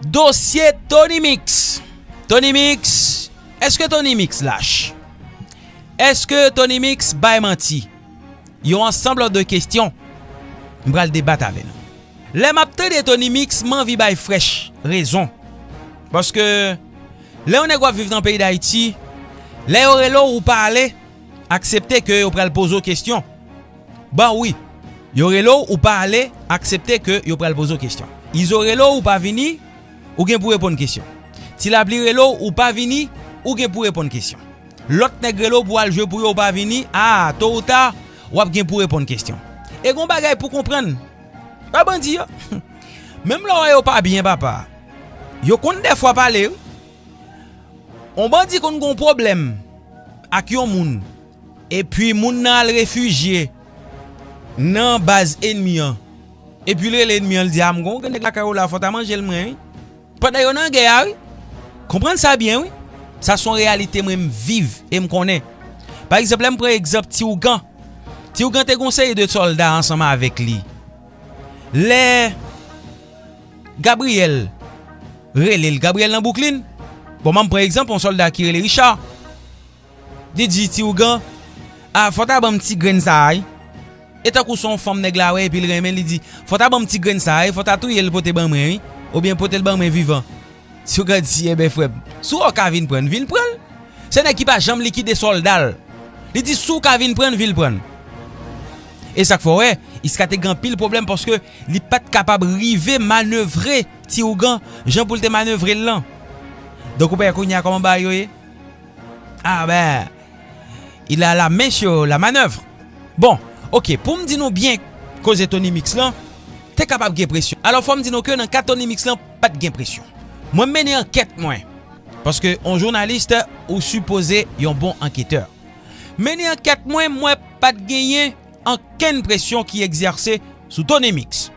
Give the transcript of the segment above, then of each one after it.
Dosye Tony Mix Tony Mix Eske Tony Mix lach? Eske Tony Mix bay manti? Yon ansanble de kestyon m pral debat avè nou. Lè m ap tande Tony Mix m anvi bay Fresh rezon. Paske lè yon nèg w ap viv nan peyi Dayiti, lè yo rele w ou pa ale, aksepte ke yo pral poze w kestyon. Bon wi Yo rele w ou pa ale aksepte ke yo pral poze w kesyon Izo rele w ou pa vini ou gen pou reponn kesyon Ti Lapli rele w ou pa vini ou gen pou reponn kesyon Lòt nèg rele w pou al jwe pou yo ou pa vini aa to ou ta w ap gen pou reponn kesyon E gon bagay pou konprann pa bandi yo menm lè w wè yo pa byen papa yo konn dèfwa pale wi On bandi konn gon pwoblèm ak yon moun Epi moun nan al refijye nan baz enmi an. Epi li rele enmi an, li di, A m konn ou gen nèg lakay ou la, fò w ta manje l mwen wi. Pandan yo nan gè a wi. Konprann sa byen wi. Sa se yon reyalite mwen m viv e m konnen. Pa egzanp, lè m pran egzanp Ti Ougan. Ti Ougan te gen yon seri de sòlda ansanm avèk li. Lè Gabriyèl rele l, Gabriyèl nan Bwouklin, bon m an m pran egzanp yon sòlda ki rele Richa. DJ ti ougan ah fò ta banm ti grenn sa ay e tankou son fanm nèg la wè epil renmen li di fò ta banm ti grenn sa ay fò ta touyel pote ban mwen wi oubyen potel ban mwen vivan ti ougan di ebyen frèm si w ka vin prann vin prann se nèg ki pa janm likide soldal li di si w ka vin prann vin prann e sak fè w wè iska te gen anpil pwoblèm paske li pat kapab rive manevre ti ougan jan poul te manevrel lan donk ou pa wè kounya kòman bagay yo ye. Ah ben! Il a la main sur la manœuvre! Bon, ok, pou m di nou byen koze Tony Mix lan, te kapab gen presyon. Alò fò m di nou ke nan ka Tony Mix lan, pa t gen presyon. Mwen m mennen ankèt mwen, paske yon jounalis ou sipoze yon bon anketè. M mennen ankèt mwen, m wè pa t genyen ankenn presyon ki egzèse sou Tony Mix.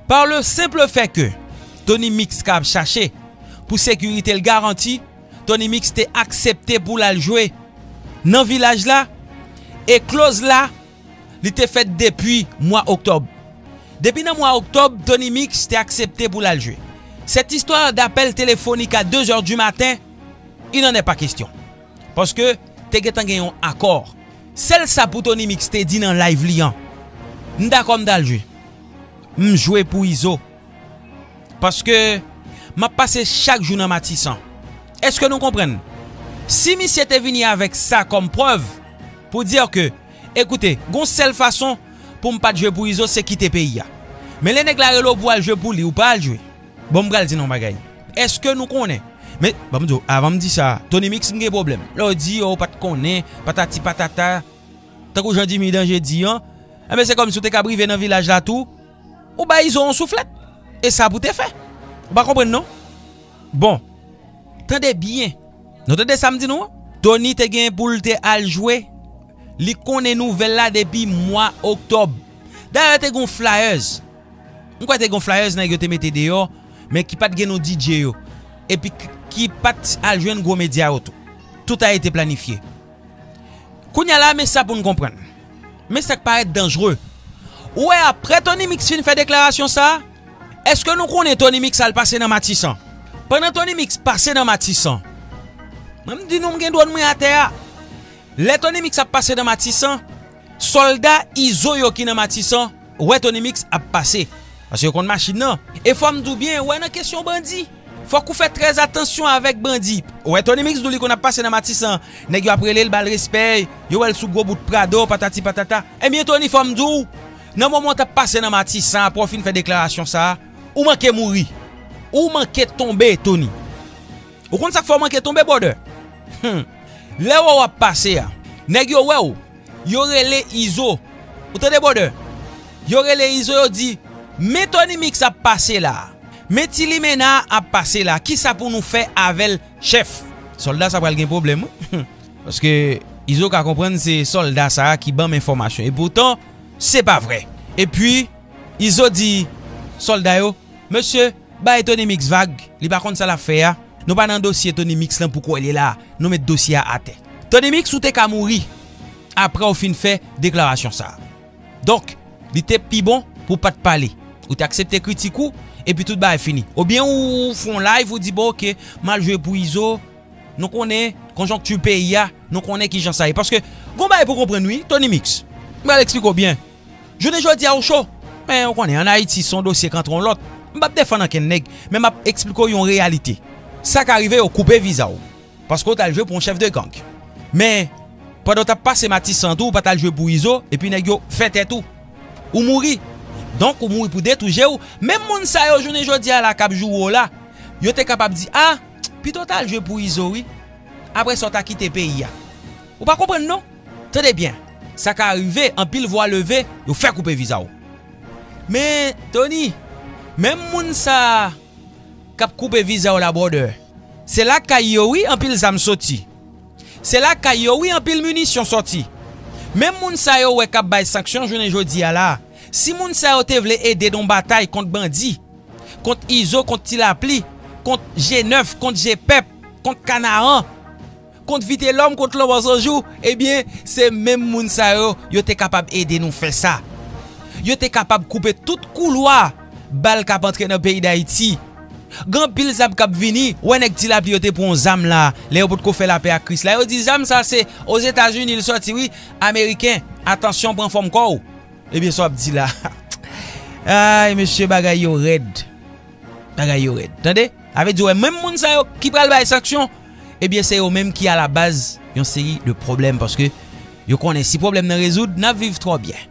Par le simple fait ke Tony Mix ka ap chache pou sekirite l garanti, Tony Mix te aksepte pou l al jwe nan Vilaj la e Close la li te fèt depi mwa Oktòb. Depi nan mwa Oktòb, Tony Mix te aksepte pou l al jwe. Cette histoire d'appel téléphonique à deux heures du matin, il n'en est pas question. Paske te gentan gen yon akò. Sèl sa pou Tony Mix te di nan live li an, M dakò m t al jwe. M jwe pou Izo. Paske m ap pase chak jou nan Matisan. Eske nou konprann? Si misye te vini avèk sa kòm prèv pou dire ke, Ekoute, gon sèl fason pou m pa t jwe pou Izo se kite peyi a. Men lè nèg la rele w pou w al jwe pou li, ou pa al jwe. Bon m pral di nou yon bagay. Eske nou konnen? Men, ban m di w, avan m di sa, Tony Mix m gen pwoblèm. Lè w di, ou pa t konnen, patati patata. Tankou jan Dimy Danje di an. Enben se kòmsi w te kab rive nan vilaj la tou. Ou bay izo yon souflèt e sa pou te fè. Ou pa konprann non. Bon. Tande byen. Nou tande sa m di nou an. Tony te gen pou l te al jwe. Li konnen nouvèl la depi mwa oktòb. Dayè te gen yon flyers. M kwè te gen yon flyers nèg yo te mete deyò. Men ki pat gen non DJ yo. Epi ki pat al jwenn gwo medya yo tou. Tout a ete planifye. Kounya la men sa pou n konprann. Men sa k parèt danjre. Ou wè aprè Tony Mix fin fè deklarasyon sa, èske nou konnen Tony Mix al pase nan Matisan? Pandan Tony Mix pase nan Matisan, mwen m di nou m gen dwòn mwen atè a, lè Tony Mix ap pase nan Matisan, Solda izo yo ki nan matisan wè Tony Mix ap pase paske yo konn machin nan e fòm di w byen wè nan kesyon bandi fòk ou fè trè atansyon avèk bandi wè Tony Mix di w li konn ap pase nan matisan nèg yo ap rele l bal respè yo wè l sou gwo bout prado patati patata ebyen Tony fòm di w nan moman w tap pase nan matisan aprè w fin fè deklarasyon sa ou manke mouri ou manke tonbe Tony. Ou konn sak fè w manke tonbe brother? Humm lè wè w ap pase a nèg yo wè w yo rele izo ou tande brother yo rele izo yo di men Tony mix ap pase la men ti limena ap pase la kisa pou nou fè avèl chèf solda sa pral gen pwoblèm wi humm paske izo ka konprann se solda sa ki banm enfòmasyon e poutan se pa vrè epi izo di solda yo mesye Bay Tony mix vag, li pa konn sa lap fè a, nou pa nan dosye Tony mix lan pouko li la, nou met dosye a atè. Tony mix ou te ka mouri aprè ou fin fè deklarasyon sa. Donk li te pi bon pou pat pale, ou te aksepte kritik ou epi tout bagay fini. Ou byen ou fon live ou di bon ok mal jwe pou Izo, nou konnen konjonkti peyi a, nou konnen kijan sa ye. Paske gon bagay pou konprann wi Tony mix, m pral eksplike w byen. Jounen jodi a ou cho, men ou konnen an Ayiti se yon dosye k antre yon lòt. M pap defann ankenn nèg, men map eksplike w yon reyalite. Sa ka rive yo koupe viza w paske w t al jwe pou yon chèf de gang. Men, pandan w t ap pase Matisan tou ou pa t al jwe pou Izo epi nèg yo fè tèt ou. Ou mouri. Donk ou mouri pou de tou je w. Menm moun sa yo jounen jodi a la k ap joure w la, yo te kapab di, a, pito w t al jwe pou Izo wi. Aprè sa w ta kite peyi a. Ou pa konprann non. Tande byen, sa ka rive anpil vwa leve, yo fè koupe viza w. Men, Tony, menm moun sa k ap koupe viza w la brother, se lakay yo wi anpil zam soti. Se lakay yo wi anpil minisyon soti. Menm moun sa yo wè k ap bay sanksyon jounen jodi a la, si moun sa yo te vle ede nan batay kont bandi, kont Izo, kont Ti Lapli, kont G9, kont G-Pèp, kont Kanaran, Kont Vitelòm, kont Lanmò San Jou, ebyen, se menm moun sa yo, yo te kapab ede nou fè sa. Yo te kapab koupe tout koulwa bal k ap antre nan peyi Dayiti. Gen anpil zam k ap vini. Ou wè nèg Ti Lapli yo te pran yon zam la a, lè yo potko fè lapè ak Kris la. Yo di zam sa a se Ozetazini l sòti wi, Ameriken, atansyon pran fòm kò ou. Ebyen sa w ap di la a. Ay mesye bagay yo rèd. Bagay yo rèd. Tande? Sa vle di ou wè menm moun sa yo ki pral bay sanksyon. Ebyen se yo menm ki a la baz yon seri de pwoblèm paske yo konnen si pwoblèm nan rezoud nap viv twò byen.